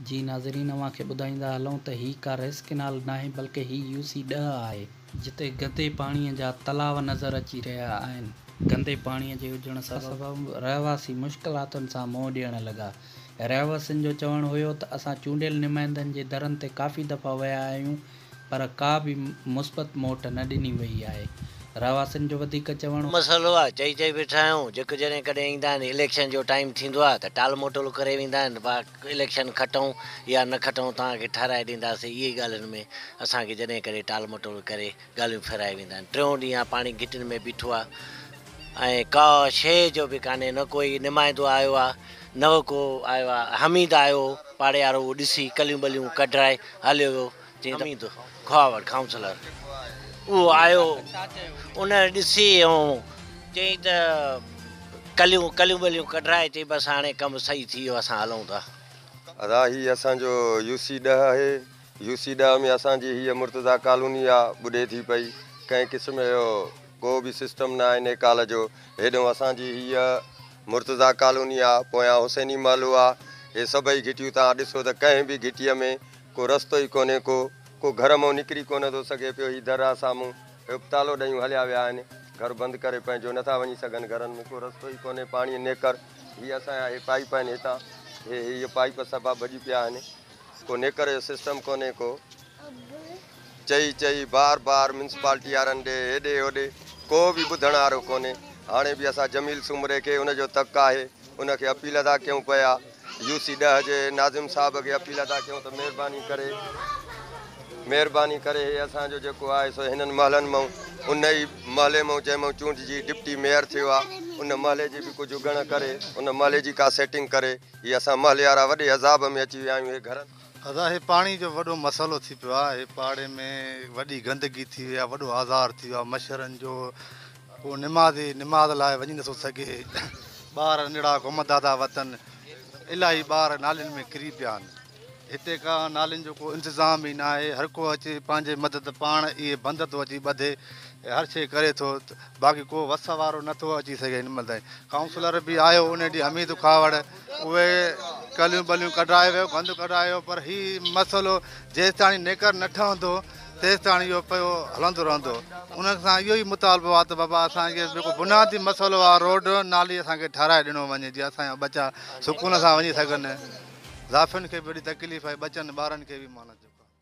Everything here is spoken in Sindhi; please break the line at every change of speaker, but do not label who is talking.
جي ناظرين اوهان کي ٻڌائيندا هلون ته هي ڪا رئيس ڪئنال ناهي بلڪه هي يو سي ڏهه آهي. جتي گندي پاڻي جا تلاء نظر اچي رهيا آهن. گندي پاڻي جي هجڻ سبب رهواسي مشڪلاتن سان منهن ڏيڻ لڳا. رهواسين جو چوڻ هيو ته اسان چونڊيل نمائندن جي درن تي ڪافي دفعا ويا آهيون پر ڪا به مثبت موٽ نه ڏني وئي آهي، رهواسين جو وڌيڪ چوڻ هو. مسئلو آهي چئي چئي
ويٺا آهيون جيڪو جڏهن ڪڏهن ايندا آهن اليڪشن جو ٽائيم ٿيندو آهي ته ٽال مٽول ڪري ويندا آهن ڀا اليڪشن کٽئون يا نه کٽئون توهان کي ٺهرائي ڏينداسين اهي ئي ڳالهين ۾ اسان کي جڏهن ڪڏهن ٽال مٽول ڪري ڳالهيون ڦيرائي ويندا آهن ٽيون ڏينهن آ پاڻي گهٽين ۾ بيٺو آ. ۽ ڪا شيء جو به ڪانهي، نه ڪوئي نمائندو آيو آ، نه ڪو آيو آ. حميد آيو، پاڙيارو اهو ڏسي ڪليون ٻليون ڪڍرائي هليو ويو. چيائين ته حميد کهاوڙ ڪائونسلر اهو آيو، ان ڏسي ۽ چيائين ته ڪليون ڪليون ٻليون ڪڍرائي چيائين بس هاڻي ڪم صحيح ٿي ويو اسان هلون ٿا. ادا هي
اسان جو يو سي ڏهه آهي. يو سي ڏهه ۾ اسان جي هيء مرتضيٰ ڪالوني آ ٻڏي ٿي پئي. ڪنهن قسم جو ڪو به سسٽم نه آهي نيڪال جو. هيڏهون اسان جي هيء مرتضيٰ ڪالوني آ، پويان حسيني محلو آ. هي سڀئي گهٽيون توهان ڏسو ته ڪنهن به گهٽيء ۾ ڪو رستو ئي ڪونهي ڪو. ڪو گهر مئو نڪري ڪونه ٿو سگهي پيو. هي در آ سامهون. هيوڪ تالو ڏيون هليا ويا آهن. گهر بند ڪري پنهنجو نٿا وڃي سگهن. گهرن ۾ ڪو رستو ئي ڪونهي پاڻيء نيڪر. هي اسان جا هي پائيپ آهن هتان. هي هيء پائيپ سڀا ڀڄي پيا آهن. ڪو نيڪر جو سسٽم ڪونهي ڪو. چئي چئي بار بار ميونسپالٽي وارن ڏي هيڏي هوڏي ڪو به ٻڌڻ وارو ڪونهي. هاڻي به اسان جميل سومري کي ان جو تڪ آهي ان کي اپيل ادا ڪيون پيا. يو سي ڏهه جي ناظم صاحب کي اپيل ادا ڪيون ته مهرباني ڪري مهرباني ڪري هي اسان جو جيڪو آهي سو هنن محلن مئون ان ئي محلي مئون جنهن مئون چونڊجي ڊپٽي ميئر ٿيو آهي ان محلي جي به ڪجهه ڳڻ ڪري ان محلي جي ڪا سيٽنگ ڪري. هي اسان محليارا وڏي عذاب ۾ اچي ويا آهيون هي گهرن. ادا هي پاڻي
جو وڏو مسئلو ٿي پيو آ هي پاڙي ۾ وڏي گندگي ٿي وئي آ وڏو آزار ٿي ويو آ مشرن جو ڪو نمازي نماز لاء وڃي نٿو سگهي ٻار ننڍڙا گم دادا وتن الاهي ٻار نالين ۾ ڪري پيا آن. هتي ڪا نالين جو ڪو انتظام ئي ناهي، هر ڪو اچي پنهنجي مدد پاڻ ئي بند ٿو اچي ٻڌي ۽ هر شيء ڪري ٿو، باقي ڪو وس وارو نه ٿو اچي سگهي هن مهل تائين. ڪائونسلر به آيو ان ڏينهن حميد کهاوڙ، اهي ڪليون ٻليون ڪڍرائي ويو، گند ڪڍرائي ويو پر هي مسئلو جيستاڻي نيڪر نه ٺهندو تيستاڻي اهو پيو هلندو رهندو. انهن سان اهو ئي مطالبو آ ته بابا اسان کي جيڪو بنيادي مسئلو آ روڊ نالي اسان کي ٺهرائي ڏنو وڃي جيئن اسان جا ٻچا سڪون سان وڃي سگهن. زائفن کي به وڏي تڪليف آهي، ٻچن ٻارن کي به مانت جو ڪارڻ آهي.